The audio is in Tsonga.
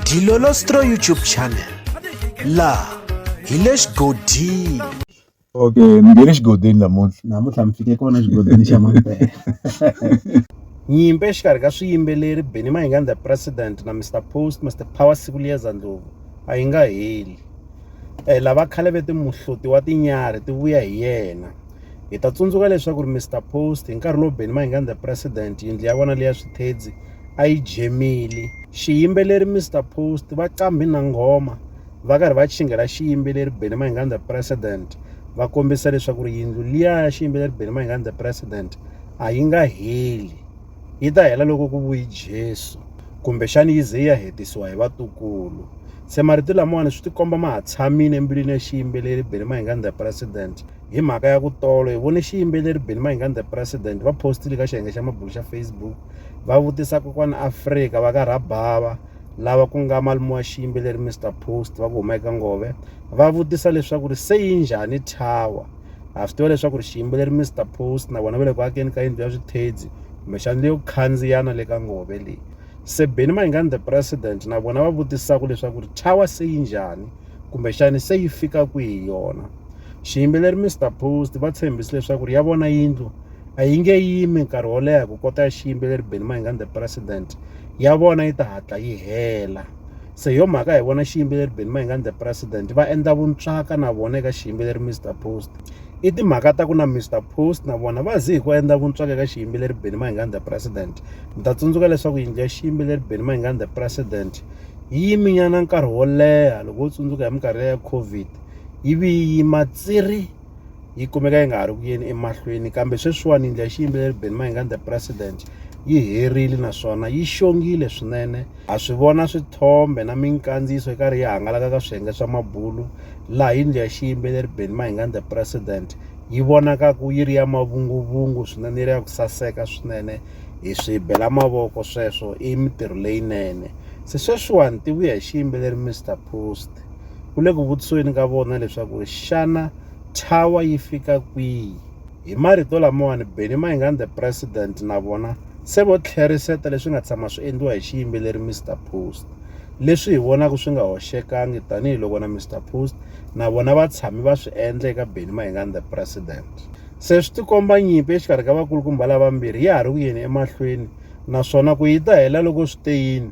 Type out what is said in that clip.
Dilolostro YouTube channel laha hi le xigodini okay ni nge le xigodini namuntlha namuntlha mi fike kona xigodini xa mampela nyimpi exikarhi ka swiyimbeleri benny mahinga the president na mr post mr power siku liyeza ndlovu a yi nga heli um lava khale ve timuhloti wa tinyarhi ti vuya hi yena hi ta tsundzuka leswaku ri mr post hi nkarhi lowu benny mahinga the president yindlu ya vona leya swithedzi a yi jemile xiyimbeleri Mr Post va qambhi na nghoma va karhi va chingela xiyimbeleri Benny Mayenganda President va kombisa leswaku ri yindlu liya ya xiyimbeleri Benny Mayenganda President a yi nga heli yi ta hela loko ku vuyi Jesu kumbexani yi ze yi ya hetisiwa hi vatukulu se marito lamawani swi tikomba ma ha tshamile embilwini ya xiyimbeleri Benny Mayenganda President hi mhaka ya ku tolo hi vone xiyimbeleri Benny Mayengani the president va postile ka xiyenge xa mabulo xa Facebook va vutisa kokwana Afrika va ka Rabhava lava ku nga malume wa xiyimbeleri Mr Post va ku huma eka Ngove va vutisa leswaku ri se yi njhani tower ha swi tiva leswaku ri xiyimbeleri Mr Post na vona va le ku akeni ka yindlu ya swithedzi kumbexana leyo khandziyana le ka Ngove leyi se Benny Mayengani the president na vona va vutisaka leswaku ri tower se yi njhani kumbexana se yi fika kwihi yona. Xiyimbeleri Mister Post va tshembise leswaku ri ya vona yindlu a yi nge yimi nkarhi wo leha ku kota ya xiyimbeleri Benny Mayengani the President ya vona yi ta hatla yi hela. Se yo mhaka hi vona xiyimbeleri Benny Mayengani the President va endla vuntswaka na vona eka xiyimbeleri Mister Post. I timhaka ta ku na Mister Post na vona va zi hi ku endla vuntswaka eka xiyimbeleri Benny Mayengani the President. Mi ta tsundzuka leswaku yindlu ya xiyimbeleri Benny Mayengani the President yi yiminyana nkarhi wo leha loko wo tsundzuka hi minkarhi ya COVID. yi vi yi yima tsiri yi kumeka yi nga ha ri ku yeni emahlweni kambe sweswiwani yindlu ya xiyimbeleri Benny Mayengani the president yi herile naswona yi xongile swinene ha swi vona swithombe na minkandziyiso yi karhi yi hangalaka ka swiyenge swa mabulu laha yindlu ya xiyimbeleri Benny Mayengani the president yi vonaka ku yi ri ya mavunguvungu swinene yi ri ya ku saseka swinene hi swi bela mavoko sweswo i mintirho leyinene se sweswiwani tivuya hi xiyimbeleri Mister Post. ku le ku vutisweni ka vona leswaku xana thawa yi fika kwihi hi marito lamawani benny mayingani the president na vona se vo tlheriseta leswi nga tshama swi endliwa hi xiyimbeleri mr post leswi hi vonaka swi nga hoxekangi tanihiloko na mr post na vona va tshami va swi endla eka benny mayingani the president se swi tikomba nyimpi exikarhi ka vakulukumba lavambirhi ya ha ri ku yeni emahlweni naswona ku yi ta hela loko swi te yini